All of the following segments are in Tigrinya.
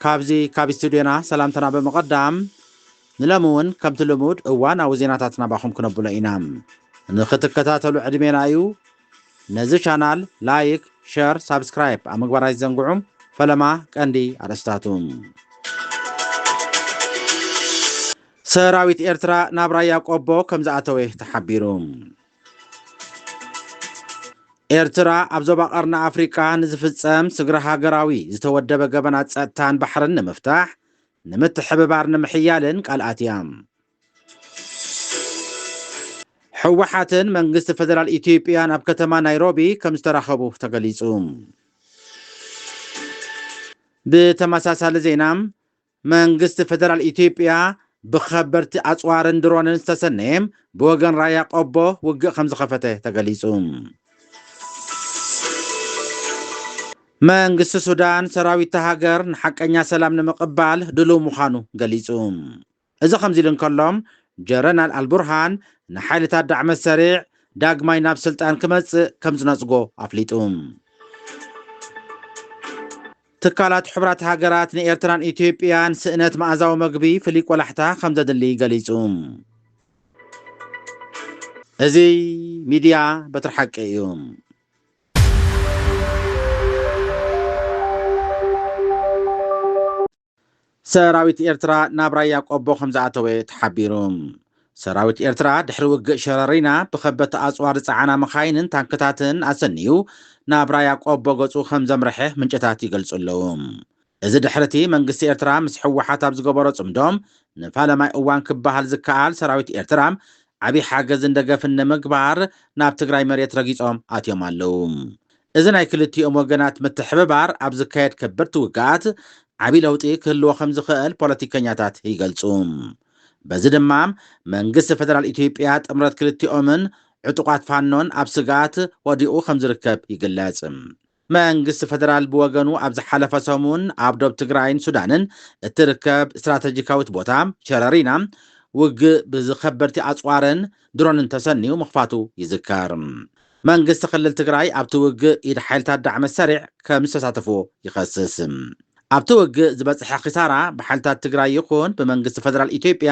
ካብዚ ካብ ስቱድዮና ሰላምታና ብምቕዳም ንሎሚ እውን ከምቲ ልሙድ እዋናዊ ዜናታት ናባኹም ክነብሎ ኢና። ንኽትከታተሉ ዕድሜና እዩ። ነዚ ቻናል ላይክ፣ ሸር፣ ሳብስክራይብ ኣብ ምግባር ኣይትዘንግዑ። ፈለማ ቀንዲ ኣርእስታቱ ሰራዊት ኤርትራ ናብ ራያ ቆቦ ከምዝኣተወ ተሓቢሩ። ኤርትራ ኣብ ዞባ ቀርኒ ኣፍሪቃ ንዝፍጸም ስግረ ሃገራዊ ዝተወደበ ገበናት ጸጥታን ባሕርን ንምፍታሕ ንምትሕብባር ንምሕያልን ቃል ኣትያ። ሕወሓትን መንግስቲ ፈደራል ኢትዮጵያን ኣብ ከተማ ናይሮቢ ከም ዝተራኸቡ ተገሊጹ። ብተመሳሳሊ ዜና መንግስቲ ፌደራል ኢትዮጵያ ብከበድቲ ኣፅዋርን ድሮንን ዝተሰነየ ብወገን ራያ ቆቦ ውግእ ከምዝኸፈተ ተገሊፁ። መንግስቲ ሱዳን ሰራዊት'ታ ሃገር ንሓቀኛ ሰላም ንምቕባል ድሉው ምዃኑ ገሊፁ። እዚ ከምዚሉ እንከሎ ጀረናል ኣልቡርሃን ንሓይልታት ዳዕመ-ሰሪዕ ዳግማይ ናብ ስልጣን ክመፅእ ከምዝነፅጎ ኣፍሊጡ። ትካላት ሕቡራት ሃገራት ንኤርትራን ኢትዮጵያን ስእነት መኣዛዊ መግቢ ፍሉይ ቆላሕታ ከምዘድሊ ገሊጹ። እዚ ሚድያ በትሪ ሓቂ እዩ። ሰራዊት ኤርትራ ናብ ራያ ቆቦ ከምዝኣተወ ተሓቢሩ። ሰራዊት ኤርትራ ድሕሪ ውግእ ሸረሪና ብከበድቲ ኣጽዋር ዝጸዓና መኻይንን ታንክታትን ኣሰንዩ ናብ ራያ ቆቦ ገጹ ከምዘምረሐ ምንጭታት ይገልጹ ኣለዉ። እዚ ድሕሪቲ መንግስቲ ኤርትራ ምስ ህወሓት ኣብ ዝገበሮ ጽምዶ ንፋለማይ እዋን ክበሃል ዝከኣል ሰራዊት ኤርትራ ዓቢ ሓገዝን ደገፍን ንምግባር ናብ ትግራይ መሬት ረጊጾም ኣትዮም ኣለዉ። እዚ ናይ ክልቲኦም ወገናት ምትሕብባር ኣብ ዝካየድ ከበድቲ ውግኣት ዓብዪ ለውጢ ክህልዎ ከምዝኽእል ፖለቲከኛታት ይገልፁ። በዚ ድማ መንግስቲ ፌደራል ኢትዮጵያ ጥምረት ክልቲኦምን ዕጡቓት ፋኖን ኣብ ስግኣት ወዲቑ ከምዝርከብ ይግለፅ። መንግስቲ ፌደራል ብወገኑ ኣብ ዝሓለፈ ሰሙን ኣብ ዶብ ትግራይን ሱዳንን እትርከብ ስትራተጂካዊት ቦታ ሸረሪና ውግእ ብዝከበድቲ ኣፅዋርን ድሮንን ተሰንዩ ምኽፋቱ ይዝከር። መንግስቲ ክልል ትግራይ ኣብቲ ውግእ ኢድ ሓይልታት ዳዕመ ሰሪዕ ከምዝተሳተፉ ይኸስስ። ኣብቲ ውግእ ዝበፅሐ ኪሳራ ብሓይልታት ትግራይ ይኹን ብመንግስቲ ፌደራል ኢትዮጵያ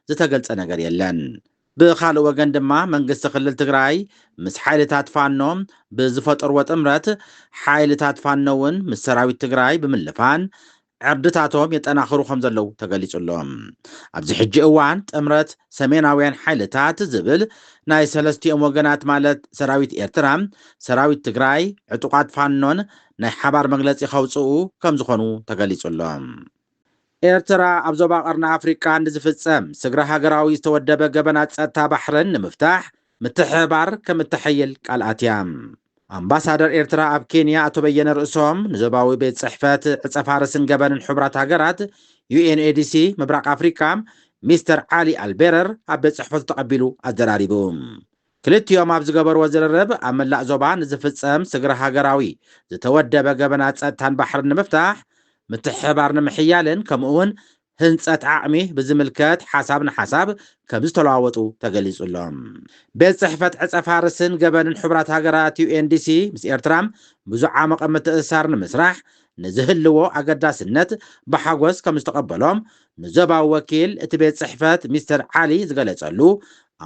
ዝተገልፀ ነገር የለን። ብኻልእ ወገን ድማ መንግስቲ ክልል ትግራይ ምስ ሓይልታት ፋኖ ብዝፈጠርዎ ጥምረት ሓይልታት ፋኖ እውን ምስ ሰራዊት ትግራይ ብምልፋን ዕርድታቶም የጠናኽሩ ከምዘለዉ ተገሊፁ ኣሎ። ኣብዚ ሕጂ እዋን ጥምረት ሰሜናውያን ሓይልታት ዝብል ናይ ሰለስቲኦም ወገናት ማለት ሰራዊት ኤርትራ፣ ሰራዊት ትግራይ፣ ዕጡቓት ፋኖን ናይ ሓባር መግለፂ ከውፅኡ ከምዝኾኑ ተገሊፁ ኣሎ። ኤርትራ ኣብ ዞባ ቀርኒ ኣፍሪቃ ንዝፍፀም ስግረ ሃገራዊ ዝተወደበ ገበናት ፀጥታ ባሕርን ንምፍታሕ ምትሕብባር ከምእተሐይል ቃል ኣትያ። ኣምባሳደር ኤርትራ ኣብ ኬንያ ኣቶ በየነ ርእሶም፣ ንዞባዊ ቤት ጽሕፈት ዕጸፋርስን ገበንን ሕቡራት ሃገራት፣ UNADC፣ ምብራቕ ኣፍሪቃ፣ ሚስተር ዓሊ ኣልቤረር ኣብ ቤት ጽሕፈቱ ተቐቢሉ ኣዘራሪቡ። ክልቲኦም ኣብ ዝገበርዎ ዝርርብ፣ ኣብ መላእ ዞባ ንዝፍጸም ስግረ ሃገራዊ ዝተወደበ ገበናት ጸጥታን ባሕርን ንምፍታሕ፣ ምትሕብባር ንምሕያልን ከምኡ'ውን ህንፀት ዓቕሚ ብዝምልከት ሓሳብ ንሓሳብ ከምዝተለዋወጡ ተገሊፁ'ሎ። ቤት ፅሕፈት ዕፀፋርስን ገበንን ሕቡራት ሃገራት፣ UNDC፣ ምስ ኤርትራ ብዝዓሞቐ ምትእስሳር ንምስራሕ ንዝህልዎ ኣገዳስነት ብሓጎስ ከምዝተቐበሎ ንዞባዊ ወኪል እቲ ቤት ፅሕፈት ሚስተር ዓሊ ዝገለፀሉ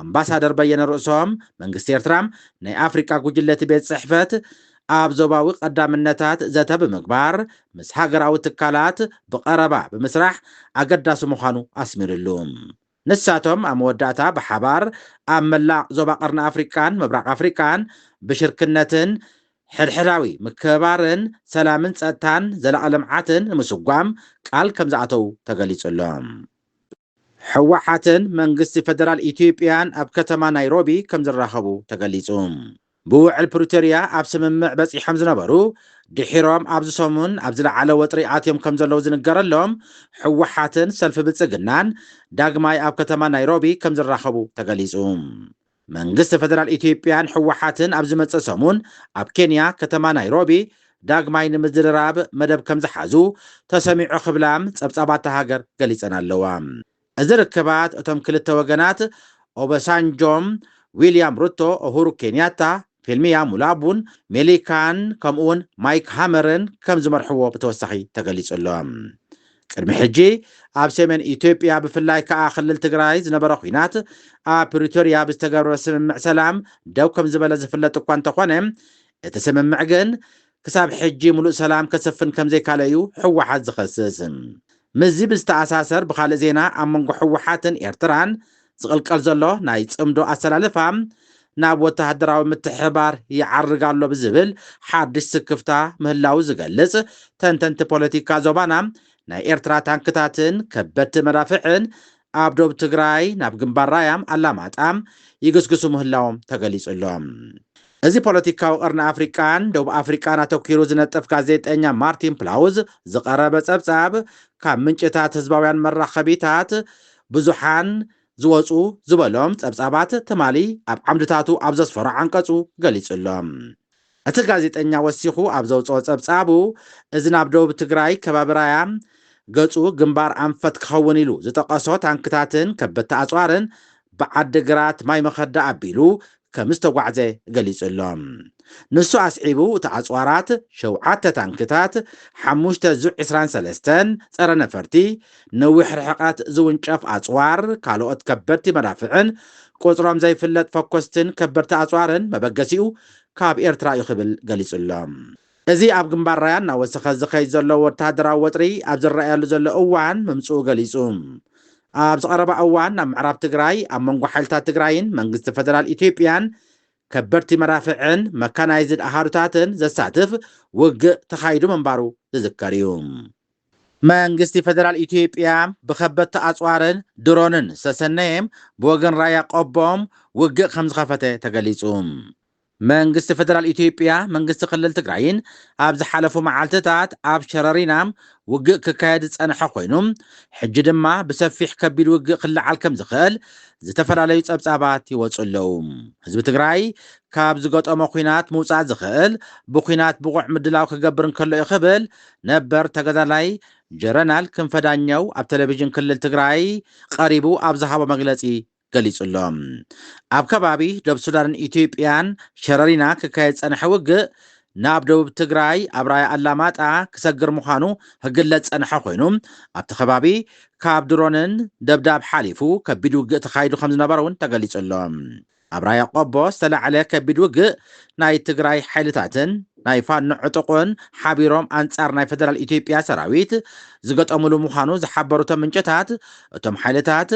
ኣምባሳደር በየነ ርእሶም መንግስቲ ኤርትራ ናይ ኣፍሪቃ ጉጅለ እቲ ቤት ፅሕፈት ኣብ ዞባዊ ቀዳምነታት ዘተ ብምግባር ምስ ሃገራዊ ትካላት ብቐረባ ብምስራሕ ኣገዳሲ ምዃኑ ኣስሚርሉ። ንሳቶም ኣብ መወዳእታ ብሓባር ኣብ መላእ ዞባ ቀርኒ ኣፍሪቃን ምብራቕ ኣፍሪቃን ብሽርክነትን ሕድሕዳዊ ምክብባርን ሰላምን ጸጥታን ዘላቒ ልምዓትን ንምስጓም ቃል ከምዝኣተዉ ተገሊጹ'ሎ። ህወሓትን መንግስቲ ፈደራል ኢትዮጵያን ኣብ ከተማ ናይሮቢ ከምዝራኸቡ ተገሊፁ። ብውዕል ፕሪቶርያ ኣብ ስምምዕ በፂሖም ዝነበሩ ድሒሮም ኣብዚ ሰሙን ኣብ ዝለዓለ ወጥሪ ኣትዮም ከምዘለዉ ዝንገረሎም ህወሓትን ሰልፊ ብልፅግናን ዳግማይ ኣብ ከተማ ናይሮቢ ከምዝራኸቡ ተገሊፁ። መንግስቲ ፈደራል ኢትዮጵያን ህወሓትን ኣብ ዝመጽእ ሰሙን ኣብ ኬንያ ከተማ ናይሮቢ ዳግማይ ንምዝርራብ መደብ ከምዝሓዙ ተሰሚዑ ክብላ ጸብጻባት እታ ሃገር ገሊጸን ኣለዋ። እዚ ርክባት እቶም ክልተ ወገናት ኦበሳንጆ፣ ዊልያም ሩቶ፣ ኡሁሩ ኬንያታ፣ ፊልም እያ ሙላቡን ሜሊካን ከምኡውን ማይክ ሃመርን ከም ዝመርሕዎ ብተወሳኺ ተገሊጹ ኣሎ። ቅድሚ ሕጂ ኣብ ሰሜን ኢትዮጵያ ብፍላይ ከኣ ክልል ትግራይ ዝነበረ ኲናት ኣብ ፕሪቶርያ ብዝተገብረ ስምምዕ ሰላም ደው ከም ዝበለ ዝፍለጥ እኳ እንተኾነ እቲ ስምምዕ ግን ክሳብ ሕጂ ምሉእ ሰላም ከስፍን ከምዘይካለ'ዩ ህወሓት ዝኸስስ። ምስዚ ብዝተኣሳሰር ብኻልእ ዜና ኣብ መንጎ ህወሓትን ኤርትራን ዝቕልቀል ዘሎ ናይ ጽምዶ ኣሰላልፋ ናብ ወተሃደራዊ ምትሕብባር ይዓርግ ኣሎ ብዝብል ሓድሽ ስክፍታ ምህላዉ ዝገልጽ ተንተንቲ ፖለቲካ ዞባና ናይ ኤርትራ ታንክታትን ከበድቲ መዳፍዕን ኣብ ዶብ ትግራይ ናብ ግንባር ራያም ኣላማጣም ይግስግሱ ምህላዎም ተገሊጹ'ሎ። እዚ ፖለቲካዊ ቀርኒ ኣፍሪቃን ደቡብ ኣፍሪቃን ኣተኲሩ ዝነጥፍ ጋዜጠኛ ማርቲን ፕላውዝ ዝቐረበ ጸብጻብ ካብ ምንጭታት ህዝባውያን መራኸቢታት ብዙሓን ዝወጹ ዝበሎም ጸብጻባት ትማሊ ኣብ ዓምድታቱ ኣብ ዘስፈሮ ዓንቀጹ ገሊጹ'ሎ። እቲ ጋዜጠኛ ወሲኹ ኣብ ዘውጽኦ ጸብጻቡ፣ እዚ ናብ ደቡብ ትግራይ ከባቢ ራያ ገጹ ግንባር ኣንፈት ክኸውን ኢሉ ዝጠቐሶ ታንክታትን ከበድቲ ኣጽዋርን ብዓዲ ግራት ማይ መኸዳ ኣቢሉ ከምዝተጓዕዘ ገሊጹ ኣሎ። ንሱ ኣስዒቡ እቲ ኣጽዋራት ሸውዓተ ታንክታት፣ ሓሙሽተ ዙ ዕስራን ሰለስተን ጸረ ነፈርቲ፣ ነዊሕ ርሕቐት ዝውንጨፍ ኣጽዋር፣ ካልኦት ከበድቲ መዳፍዕን ቁጽሮም ዘይፍለጥ ፈኮስትን ከበድቲ ኣጽዋርን መበገሲኡ ካብ ኤርትራ እዩ ክብል ገሊጹ ኣሎ። እዚ ኣብ ግንባር ራያ እናወሰኸ ዝኸይድ ዘሎ ወተሃደራዊ ወጥሪ ኣብ ዝረኣየሉ ዘሎ እዋን ምምጽኡ ገሊጹ። ኣብዚ ቀረባ እዋን ኣብ ምዕራብ ትግራይ ኣብ መንጎ ሓይልታት ትግራይን መንግስቲ ፈደራል ኢትዮጵያን ከበድቲ መዳፍዕን መካናይዝድ ኣሃዱታትን ዘሳትፍ ውግእ ተኻይዱ ምንባሩ ዝዝከር እዩ። መንግስቲ ፌደራል ኢትዮጵያ ብከበድቲ ኣፅዋርን ድሮንን ዝተሰነየ ብወገን ራያ ቆቦ ውግእ ከምዝኸፈተ ተገሊፁ። መንግስቲ ፌደራል ኢትዮጵያ መንግስቲ ክልል ትግራይን ኣብ ዝሓለፉ መዓልቲታት ኣብ ሸረሪና ውግእ ክካየድ ዝፀንሐ ኮይኑ ሕጂ ድማ ብሰፊሕ ከቢድ ውግእ ክለዓል ከምዝኽእል ዝተፈላለዩ ፀብፃባት ይወፁ ኣለው። ህዝቢ ትግራይ ካብ ዝገጠሞ ኹናት ምውፃእ ዝኽእል ብኹናት ብቑዕ ምድላው ክገብር እንከሎ እዩ ክብል ነበር ተጋዳላይ ጀረናል ክንፈ ዳኘው ኣብ ቴሌቪዥን ክልል ትግራይ ቐሪቡ ኣብ ዝሃቦ መግለፂ ገሊፁ'ሎ። ኣብ ከባቢ ዶብ ሱዳንን ኢትዮጵያን ሸረሪና ክካየድ ዝፀንሐ ውግእ ናብ ደቡብ ትግራይ ኣብ ራያ ኣላማጣ ክሰግር ምዃኑ ክግለፅ ዝፀንሐ ኮይኑ ኣብቲ ከባቢ ካብ ድሮንን ደብዳብ ሓሊፉ ከቢድ ውግእ ተኻይዱ ከምዝነበረ'ውን ተገሊፁ'ሎ። ኣብ ራያ ቆቦ ዝተላዕለ ከቢድ ውግእ ናይ ትግራይ ሓይልታትን ናይ ፋኖ ዕጡቕን ሓቢሮም ኣንጻር ናይ ፈደራል ኢትዮጵያ ሰራዊት ዝገጠሙሉ ምዃኑ ዝሓበሩ እቶም ምንጭታት፣ እቶም ሓይልታት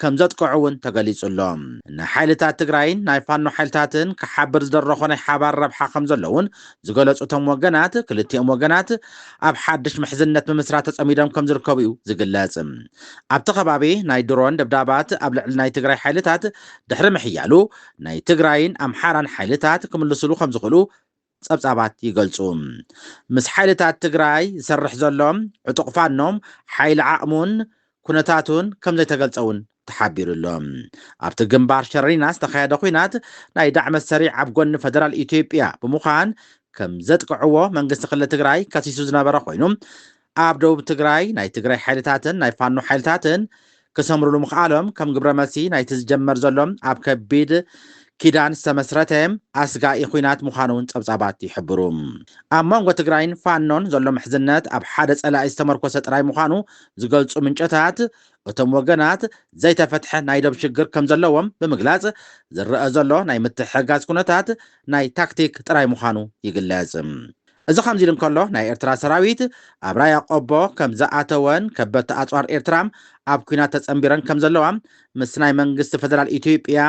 ከምዘጥቅዑ እውን ተገሊጹ ኣሎ። ንሓይልታት ትግራይን ናይ ፋኖ ሓይልታትን ክሓብር ዝደረኾ ናይ ሓባር ረብሓ ከምዘሎ እውን ዝገለጹ እቶም ወገናት፣ ክልቲኦም ወገናት ኣብ ሓድሽ ምሕዝነት ምምስራት ተጸሚዶም ከምዝርከቡ እዩ ዝግለጽ። ኣብቲ ከባቢ ናይ ድሮን ደብዳባት ኣብ ልዕሊ ናይ ትግራይ ሓይልታት ድሕሪ ምሕያሉ ናይ ትግራይን ኣምሓራን ሓይልታት ክምልስሉ ከምዝኽእሉ ጸብጻባት ይገልጹ። ምስ ሓይልታት ትግራይ ዝሰርሕ ዘሎ ዕጡቕ ፋኖ ሓይሊ ዓቕሙን ኩነታቱን ከምዘይተገልጸ'ውን ተሓቢሩ ኣሎ። ኣብቲ ግንባር ሸረሪና ዝተኻየደ ኹናት ናይ ዳዕመ ሰሪዕ ኣብ ጎኒ ፈደራል ኢትዮጵያ ብምዃን ከምዘጥቅዕዎ መንግስቲ ክልል ትግራይ ከሲሱ ዝነበረ ኮይኑ ኣብ ደቡብ ትግራይ ናይ ትግራይ ሓይልታትን ናይ ፋኖ ሓይልታትን ክሰምርሉ ምኽኣሎም ከም ግብረ መልሲ ናይቲ ዝጀመር ዘሎ ኣብ ከቢድ ኪዳን ዝተመስረተ ኣስጋኢ ኹናት ምዃኑ እውን ጸብጻባት ይሕብሩ። ኣብ መንጎ ትግራይን ፋኖን ዘሎ ምሕዝነት ኣብ ሓደ ጸላኢ ዝተመርኮሰ ጥራይ ምዃኑ ዝገልጹ ምንጨታት፣ እቶም ወገናት ዘይተፈትሐ ናይ ዶብ ሽግር ከም ዘለዎም ብምግላጽ ዝረኣ ዘሎ ናይ ምትሕግጋዝ ኩነታት ናይ ታክቲክ ጥራይ ምዃኑ ይግለጽ። እዚ ከምዚ ኢሉ እንከሎ፣ ናይ ኤርትራ ሰራዊት ኣብ ራያ ቆቦ ከም ዝኣተወን ከበድቲ ኣጽዋር ኤርትራ ኣብ ኲናት ተጸንቢረን ከም ዘለዋ ምስ ናይ መንግስቲ ፈደራል ኢትዮጵያ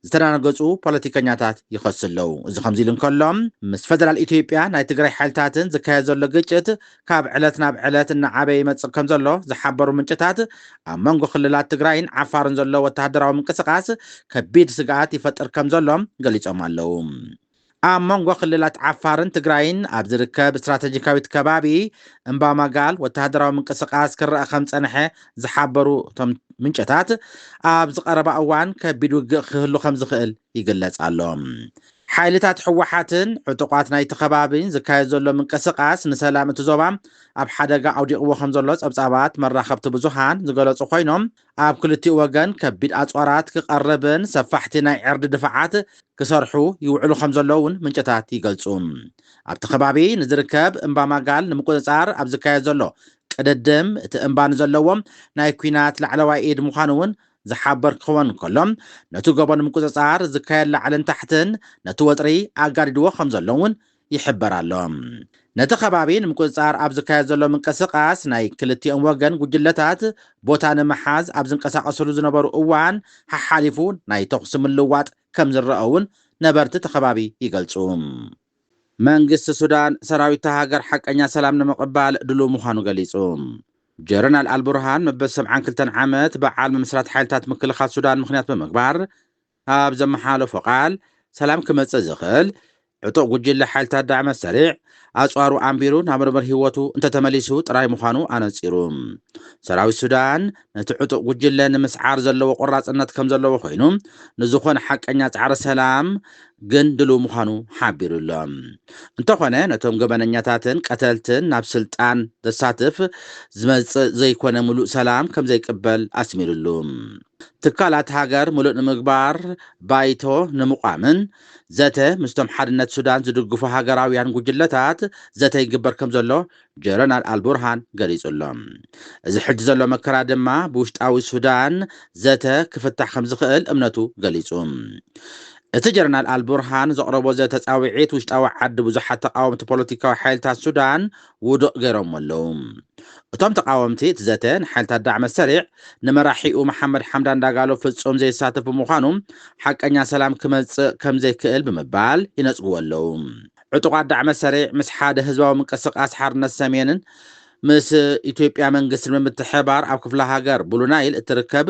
ዝተዳናገጹ ፖለቲከኛታት ይኸሱ ኣለዉ። እዚ ከምዚ ኢሉ እንከሎ፣ ምስ ፈደራል ኢትዮጵያ ናይ ትግራይ ሓይልታትን ዝካየድ ዘሎ ግጭት ካብ ዕለት ናብ ዕለት እናዓበየ ይመጽእ ከም ዘሎ ዝሓበሩ ምንጭታት፣ ኣብ መንጎ ክልላት ትግራይን ዓፋርን ዘሎ ወተሃደራዊ ምንቅስቓስ ከቢድ ስግኣት ይፈጥር ከም ዘሎ ገሊጾም ኣለዉ። ኣብ መንጎ ክልላት ዓፋርን ትግራይን ኣብ ዝርከብ ስትራተጂካዊት ከባቢ እምባማጋል ወተሃደራዊ ምንቅስቓስ ክረኣ ከም ዝጸንሐ ዝሓበሩ እቶም ምንጨታት፣ ኣብዚ ቀረባ እዋን ከቢድ ውግእ ክህሉ ከም ዝኽእል ይግለጽ ኣሎ። ሓይልታት ህወሓትን ዕጡቓት ናይቲ ከባቢን ዝካየድ ዘሎ ምንቅስቓስ ንሰላም እቲ ዞባ ኣብ ሓደጋ ኣውዲቕዎ ከም ዘሎ ጸብጻባት መራኸብቲ ብዙሃን ዝገለጹ ኮይኖም፣ ኣብ ክልቲኡ ወገን ከቢድ ኣጽዋራት ክቐርብን ሰፋሕቲ ናይ ዕርዲ ድፋዓት ክሰርሑ ይውዕሉ ከምዘለዉ'ውን ምንጭታት ይገልጹ። ኣብቲ ከባቢ ንዝርከብ እምባ ማጋል ንምቁጽጻር ኣብ ዝካየድ ዘሎ ቅድድም፣ እቲ እምባ ንዘለዎ ናይ ኲናት ላዕለዋይ ኢድ ምዃኑ'ውን ዝሓበር ክኽወን እንከሎ፣ ነቲ ጎቦ ንምቁጽጻር ዝካየድ ላዕልን ታሕትን ነቲ ወጥሪ ኣጋዲድዎ ከምዘሎ'ውን ይሕበር ኣሎ። ነቲ ከባቢ ንምቁጽጻር ኣብ ዝካየድ ዘሎ ምንቅስቓስ ናይ ክልቲኦም ወገን ጉጅለታት ቦታ ንምሓዝ ኣብ ዝንቀሳቐስሉ ዝነበሩ እዋን ሓሓሊፉ ናይ ተኹሲ ምልውዋጥ ከም ዝረኣ'ውን ነበርቲ እቲ ከባቢ ይገልጹ። መንግስቲ ሱዳን ሰራዊት'ታ ሃገር ሓቀኛ ሰላም ንምቕባል ድሉው ምዃኑ ገሊጹ። ጀረናል ኣልቡርሃን መበል ሰብዓን ክልተን ዓመት በዓል ምምስራት ሓይልታት ምክልኻል ሱዳን ምኽንያት ብምግባር፣ ኣብ ዘመሓላለፎ ቃል፣ ሰላም ክመጽእ ዝኽእል፣ ዕጡቕ ጉጅለ ሓይልታት ዳዕመ ሰሪዕ ኣጽዋሩ ኣንቢሩ ናብ ንቡር ህይወቱ እንተተመሊሱ ጥራይ ምዃኑ ኣነጺሩ። ሰራዊት ሱዳን ነቲ ዕጡቕ ጉጅለ ንምስዓር ዘለዎ ቆራጽነት ከምዘለዎ ኮይኑ፣ ንዝኾነ ሓቀኛ ጻዕሪ ሰላም ግን ድሉው ምዃኑ ሓቢሩ ኣሎ። እንተኾነ ነቶም ገበነኛታትን ቀተልትን ናብ ስልጣን ዘሳትፍ ዝመጽእ ዘይኮነ ምሉእ ሰላም ከምዘይቅበል ኣስሚርሉ። ትካላት ሃገር ምሉእ ንምግባር ባይቶ ንምቋምን ዘተ ምስቶም ሓድነት ሱዳን ዝድግፉ ሃገራውያን ጉጅለታት ዘተ ይግበር ከምዘሎ ጀረናል ኣልቡርሃን ገሊጹ ኣሎ። እዚ ሕጂ ዘሎ መከራ ድማ ብውሽጣዊ ሱዳን ዘተ ክፍታሕ ከምዝኽእል እምነቱ ገሊጹ። እቲ ጀረናል ኣልቡርሃን ዘቕረቦ ዘተ ጻውዒት ውሽጣዊ ዓዲ ብዙሓት ተቓወምቲ ፖለቲካዊ ሓይልታት ሱዳን ውዱቕ ገይሮሞ ኣለዉ። እቶም ተቓወምቲ እቲ ዘተ ንሓይልታት ዳዕመ ሰሪዕ ንመራሒኡ መሓመድ ሓምዳን ዳጋሎ ፍጹም ዘየሳትፍ ብምዃኑ ሓቀኛ ሰላም ክመጽእ ከምዘይክእል ብምባል ይነጽግዎ ኣለዉ። ዕጡቓት ዳዕመ ሰሪዕ ምስ ሓደ ህዝባዊ ምንቅስቓስ ሓርነት ሰሜንን ምስ ኢትዮጵያ መንግስትን ብምትሕብባር ኣብ ክፍለ ሃገር ብሉ ናይል እትርከብ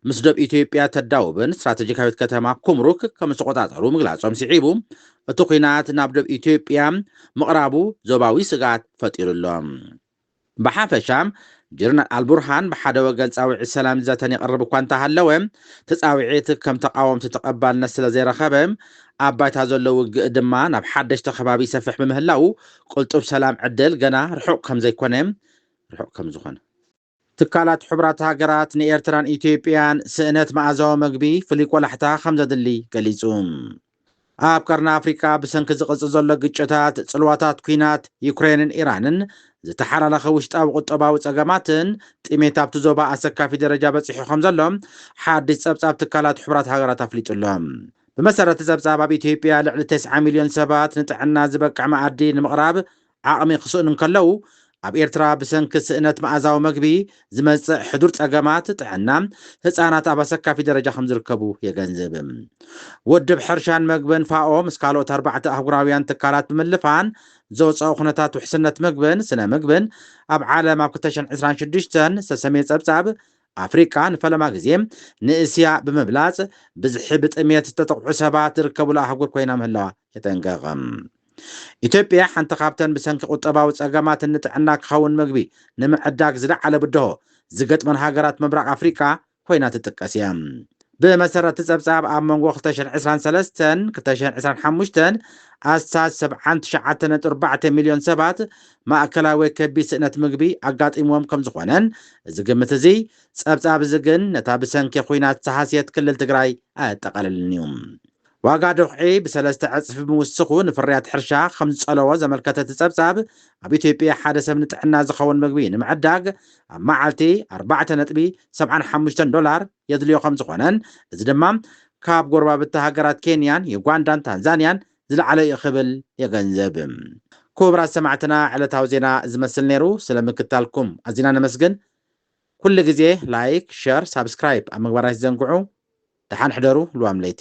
ምስ ዶብ ኢትዮጵያ እተዳውብን ስትራተጂካዊት ከተማ ኩምሩክ ከምዝተቖጻጸሩ ምግላጾም ስዒቡ እቲ ኲናት ናብ ዶብ ኢትዮጵያ ምቕራቡ ዞባዊ ስግኣት ፈጢሩ ኣሎ። ብሓፈሻ ጀነራል ኣልቡርሃን ብሓደ ወገን ጻውዒት ሰላምን ዘተን የቕርብ እኳ እንተሃለወ፣ እቲ ጻውዒት ከም ተቓወምቲ ተቐባልነት ስለዘይረኸበ፣ ኣብ ባይታ ዘሎ ውግእ ድማ ናብ ሓደሽቲ ከባቢ ይሰፍሕ ብምህላዉ ቅልጡፍ ሰላም ዕድል ገና ርሑቕ ከምዘይኮነ ርሑቕ ከምዝኾነ። ትካላት ሕቡራት ሃገራት ንኤርትራን ኢትዮጵያን ስእነት መኣዛዊ መግቢ ፍሉይ ቆላሕታ ከም ዘድሊ ገሊጹ። ኣብ ቀርኒ ኣፍሪቃ ብሰንኪ ዝቕጽል ዘሎ ግጭታት፣ ጽልዋታት ኲናት ዩክሬንን ኢራንን፣ ዝተሓላለኸ ውሽጣዊ ቁጠባዊ ጸገማትን ጥሜት ኣብቲ ዞባ ኣሰካፊ ደረጃ በጺሑ ከም ዘሎ ሓድሽ ጸብጻብ ትካላት ሕቡራት ሃገራት ኣፍሊጡ ኣሎ። ብመሰረት'ቲ ጸብጻብ ኣብ ኢትዮጵያ ልዕሊ ተስዓ ሚልዮን ሰባት ንጥዕና ዝበቅዕ መኣዲ ንምቕራብ ዓቕሚ ክስእኑ እንከለዉ፣ ኣብ ኤርትራ ብሰንኪ ስእነት መኣዛዊ መግቢ ዝመጽእ ሕዱር ጸገማት ጥዕና፣ ህጻናት ኣብ ኣሰካፊ ደረጃ ከምዝርከቡ የገንዝብ። ውድብ ሕርሻን መግብን፣ ፋኦ፣ ምስ ካልኦት ኣርባዕተ ኣህጉራውያን ትካላት ብምልፋን ዘውጸኦ ኩነታት ውሕስነት መግብን ስነ ምግብን ኣብ ዓለም ኣብ ክልተ ሽሕን ዕስራን ሽዱሽተን ዝተሰምየ ጸብጻብ ኣፍሪቃ ንፈለማ ግዜ ንእስያ ብምብላጽ ብዝሒ ብጥሜት ዝተጠቕዑ ሰባት ዝርከቡላ ኣህጉር ኮይና ምህላዋ የጠንቅቕ። ኢትዮጵያ ሓንቲ ካብተን ብሰንኪ ቁጠባዊ ጸገማትን ንጥዕና ክኸውን ምግቢ ንምዕዳግ ዝለዓለ ብድሆ ዝገጥመን ሃገራት ምብራቕ ኣፍሪቃ ኮይና ትጥቀስ እያ። ብመሰረት እቲ ጸብጻብ ኣብ መንጎ ክልተ ሽሕን ዕስራን ሰለስተን ክልተ ሽሕን ዕስራን ሓሙሽተን ኣስታት ሰብዓን ትሽዓተ ነጥቢ ኣርባዕተ ሚልዮን ሰባት ማእከላይ ወይ ከቢድ ስእነት ምግቢ ኣጋጢምዎም ከም ዝኾነን እዚ ግምት እዚ ጸብጻብ እዚ ግን ነታ ብሰንኪ ኹናት ዝሃስየት ክልል ትግራይ ኣየጠቓልልን እዩ። ዋጋ ዶኽዒ ብሰለስተ ዕጽፊ ምውስኹ ንፍርያት ሕርሻ ከም ዝጸለዎ ዘመልከተ እቲ ጸብጻብ፣ ኣብ ኢትዮጵያ ሓደ ሰብ ንጥዕና ዝኸውን ምግቢ ንምዕዳግ ኣብ መዓልቲ ኣርባዕተ ነጥቢ ሰብዓን ሓሙሽተን ዶላር የድልዮ ከም ዝኾነን እዚ ድማ ካብ ጎረባብቲ ሃገራት ኬንያን ዩጋንዳን ታንዛንያን ዝለዓለ እዩ ክብል የገንዝብ። ኩቡራት ሰማዕትና ዕለታዊ ዜና እዚ መስል ነይሩ። ስለ ምክታልኩም ኣዚና ነመስግን። ኩሉ ግዜ ላይክ ሸር ሳብስክራይብ ኣብ ምግባር ኣይትዘንግዑ ደሓን ሕደሩ ልዋም ለይቲ።